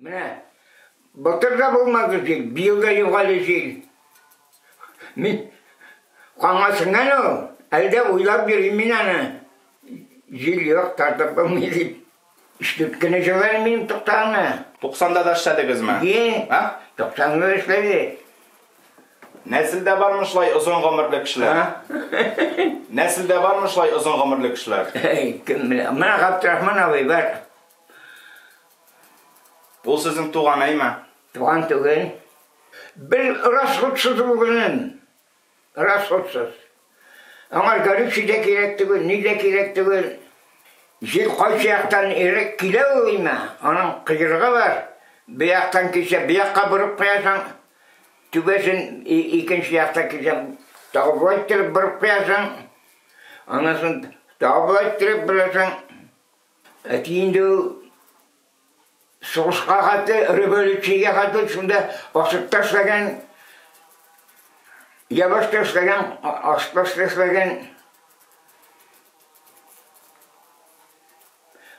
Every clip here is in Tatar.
Менә былтыр да булмады җил, быел да югали җил. Мин каңасыннан ул, әле дә уйлап йөрим мин аны. Җил юк, тартып булмый дип. Өч дүрт көн җылы әле минем туктагына. Туксанда да эшләдегезме? Ие, а? туксанда да эшләдек. Нәселдә бармы шулай озын гомерле кешеләр? Нәселдә бармы шулай озын гомерле кешеләр? Кем белә. Менә Габдрахман абый бар. Бу сезнең туган әйме? Туган түгел. Бел расходсыз ул генен. Расходсыз. Аңар горючий дә кирәк түгел, ни дә кирәк түгел. Җил кайсы яктан ирек килә ул өймә, аның кыйрыгы бар. Бу яктан килсә, бу якка борып куясың. Түбәсен икенче якта килсә, тагы болай иттереп борып куясың. Аннан соң тагы болай иттереп борасың. Әти инде ул сугышка хәтле, революциягә хәтле шунда ашыкта эшләгән, ябышта эшләгән, ашпашта эшләгән.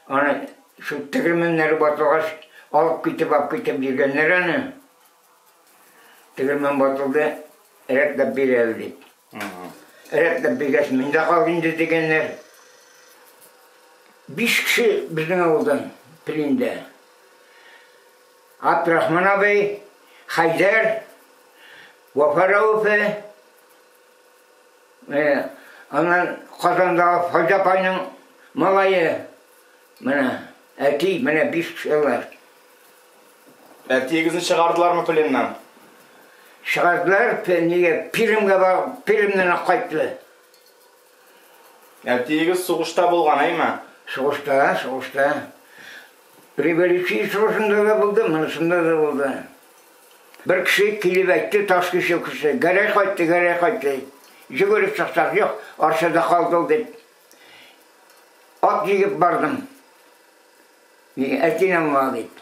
Аны шул тегермәннәр батылгач, алып китеп, алып китеп йөргәннәр аны. Тегермән батылды, рәтләп бир әле дип. Рәтләп биргәч, мин дә кал инде дигәннәр. Биш кеше безнең авылдан пленда. Абдрахман абый, Хайдар, Вафа Рәүфе, э, аннан Казандагы Файда апайның малае, менә әти, менә биш кеше алар. Әтиегезне чыгардылармы пленнан? Чыгардылар, нигә Пермьгә барып, Пермьнән үк кайтты. Әтиегез сугышта булган, әйме? Сугышта, сугышта. Революция сугышында да булды, монысында да булды. Бер кеше килеп әйтте, таш кеше кеше, гәрәй кайтты, гәрәй кайтты. Җөгереп чыксак, юк, Арчада калды ул дип. Ат җигеп бардым. Нигә әйтим аңа дип.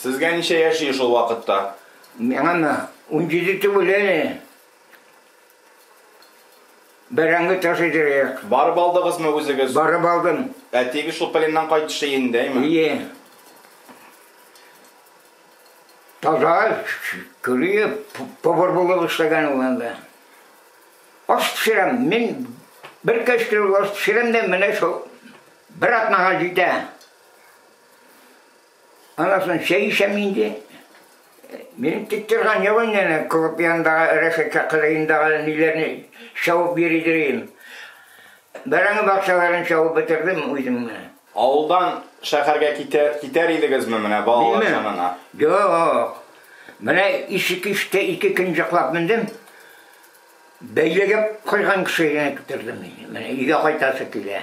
Сезгә ничә яшь иде шул вакытта? Миңамы? Унҗиде түгел әле. Бәрәңге ташыйдыр идек. Барып алдыгызмы үзегез? Барып алдым. Әтиегез шул пленнан кайтышы иендәйме? Ие. Таза, көлие, повар булып эшләгән ул анда. Аш пешерәм, мин бер кәчтүрек аш пешерәм дә, менә шул Бер атнага җитә. Аннан соң чәй эчәм инде. Минем тик торган юк инде әле, клуб янындагы рәшәткә кырыендагы ниләрне чабып йөри йөрим. Бәрәңге бакчаларын чабып бетердем үзем менә. Авылдан шәһәргә китәр, китәр идегезме менә балалар Мин янына? Юк. Менә ишек иште ике көн җоклап мендем. Бәйләгә куйган кешегә генә китердем мин. Менә өйгә кайтасы килә.